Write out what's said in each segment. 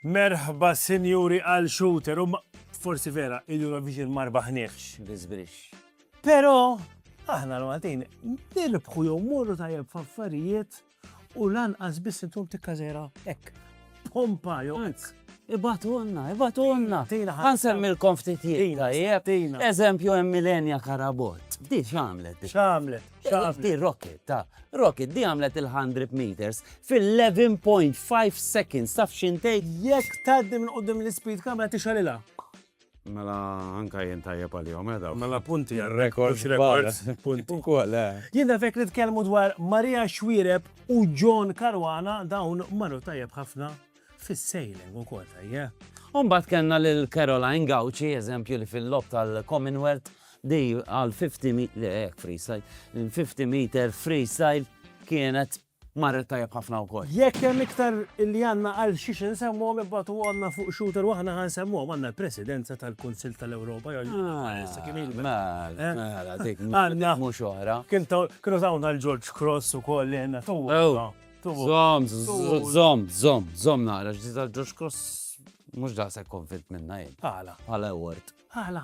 Merħba sinjuri għal shooter, u forsi vera il-Eurovision ma rbaħniex. Bizbrix. Pero, aħna l-Maltin, nirbħu jew morru tajjeb f'affarijiet U lanqas biss intom tikkażera hekk. Pompa jew hekk. Ibatulna, ibatulna. Ħa nsemmilkom ftit jien tajjeb. Eżempju hemm Milenia Carabott. Di x'għamlet? X'għamlet? X'għamlet? Di rocket, ta. Rocket di għamlet il-100 meters fil-11.5 seconds taf x'intejk? Jekk tgħaddi minn quddiem l-ispid kamera tixgħelilha. Mela anka jien tajjeb għalihom eh dawk. Mela punti għal records records punti. Ukoll eh. Jien nafek nitkellmu dwar Maria Xwireb u John Caruana dawn marru tajjeb ħafna fis-sailing ukoll tajjeb. Eh. Umbagħad kellna lil Caroline Gauci eżempju li fil-lob tal-Commonwealth di għal 50 meter freestyle. 50 meter freestyle kienet marret tajjeb ħafna wkoll. Jekk hemm iktar li għandna għal xiex insemmuhom ibgħatuhomlna fuq shooter u aħna ħa nsemmuhom, għandna l-Presidenza tal-Kunsill tal-Ewropa jew issa kien ilha. Mela, mela dik mhux oħra. Kienu tawna l-George Cross ukoll li għandna togħna. Żomm, żomm, żomm, żomm naqra x'dita l-George Cross mhux daqshekk konvint minnha jien. Għala? Għala award. Għala?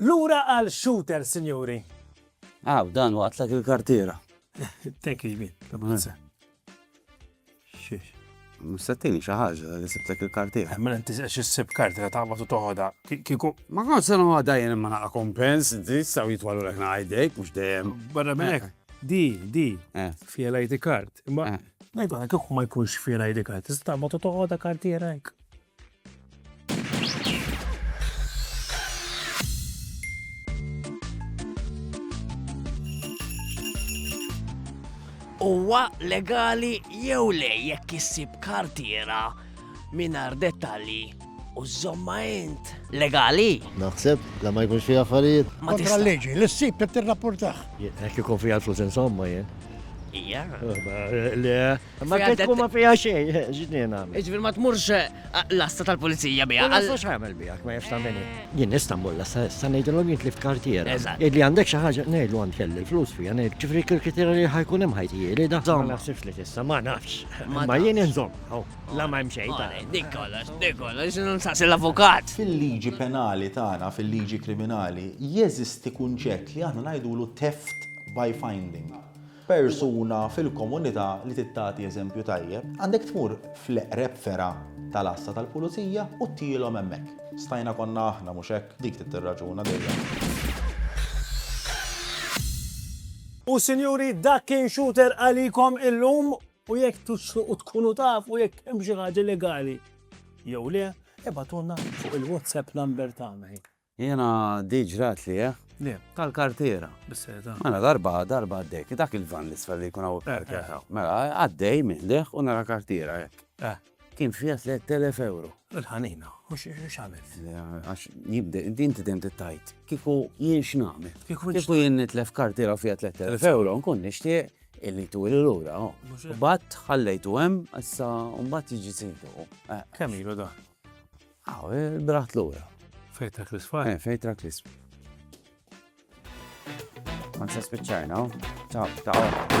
Lura għal Shooter, sinjuri! Aw, dan waqtlek il-kartiera. Thank you, Jmien. Tabbanza. Xiex. Mustattini xaħġa li sibtek il-kartiera. Mela inti xi ssib kartiera taqbad u toħodha. Kieku. Ma kont se noħodha jien imma naqa' kompens, inti saw jitwalu lek ngħidejk mhux dejjem. Barra minn hekk. Di, di. Fiha l-ID card. Imma eh. Ngħidu hekk, kieku ma jkunx fih l-ID card, tista' taqbad u toħodha kartiera hekk. Huwa legali jew le jekk issib kartiera mingħajr dettalji u żomma int legali. Naħseb la ma jkunx fi affarijiet. Ma tista' leġi, l-issib qed tirrapportah. Jekk ikun fiha l-flus insomma jien. Ija. Le, ma kif tkun ma fiha xejn, ġnien għamil. Iġbir ma tmurx eh, l-asta tal-pulizija biha. Għal xi għamel biha, ma jafx tagħmel. Jien nista' mmur l-asta, sa ngħidilhom jien tlift kartiera. Eżatt. Li għandek xi ħaġa ngħidlu għand kelli l-flus fiha, ngħid ġifri kirkitira li ħajkun hemm ħajtijieli da. Ma naħsibx li tista' ma nafx. Ma jien inżomm. La ma hemm xejn ta' dik kollox, dik kollox, nsaqsi l-avukat. Fil-liġi penali tagħna, fil-liġi kriminali, jeżisti kunċett li aħna ngħidulu theft by finding. Persuna fil-komunità li trid tagħti eżempju tajjeb, għandek tmur fl-eqreb fergħa tal-għassa tal-pulizija u ttielhom hemmhekk. Stajna konna aħna, mhux hekk? Dik trid tirraġuna dejjem. U sinjuri dak kien Shooter għalikom illum. U jekk tixtiequ tkunu tafu jekk hemm xi ħaġa legali jew le, ibgħatulna fuq il-WhatsApp number tagħna hi. Jiena di ġrat li eh? Le. Tal-kartiera. Bis-seta. Mela darba darba għaddejt, dak il-van l-isfel li jkun hawn. Mela għaddej minn leh u nara kartiera hekk. Eh. Kien fiha 3000 euro. Il-ħanina, u x'għamilt? Għax jibde, din tidem tittajt. Kiku jien x'nagħmel? Kiku jien nitlef kartira fiha 3000 euro, nkun nixtieq illi tu il lura oh. Bat ħallejtu hemm, issa mbagħad jiġi sejtu. Eh. Kemm ilu da? Aw, ah, eh, braħt lura. Fejtra Krisfa? Eh, fejtra Krisfa. Ma nsa spiċċajna, oh. ta' ta'